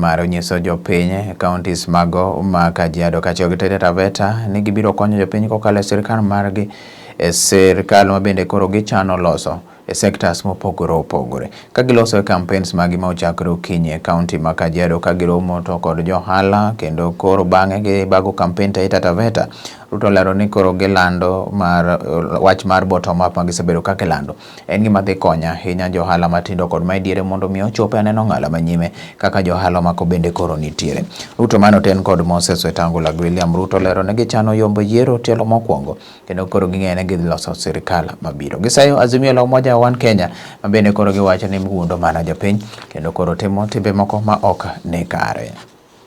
mar nyiso jopiny e counties mago ma Kajiado, Kachio gi Taita Taveta ni gibiro konyo jopiny kokalo e sirkal margi e sirkal ma bende koro gichano loso e sectors mopogore opogore. Ka giloso e campaigns magi ma ochakre okinyi e county ma Kajiado ka giromo to kod johala kendo koro bang'e gibago campaign Taita Taveta. Ruto olero ni koro gilando mar wach mar bottom up ma gisebedo ka gilando. En gima dhi konya ahinya johala matindo kod mae diere mondo mi ochope aneno ng'ala manyime kaka johala mako bende koro nitiere. Ruto mano ten kod Moses Wetangula gi William Ruto lero ne gichano yombo yiero tielo mokwongo kendo koro ging'eyo ni gidhi loso sirikal mabiro. Gisayo Azimio la Umoja One Kenya ma bende koro giwacho ni mgundo mana jopiny kendo koro timo timbe moko ma ok ni kare.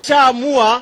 Chaamua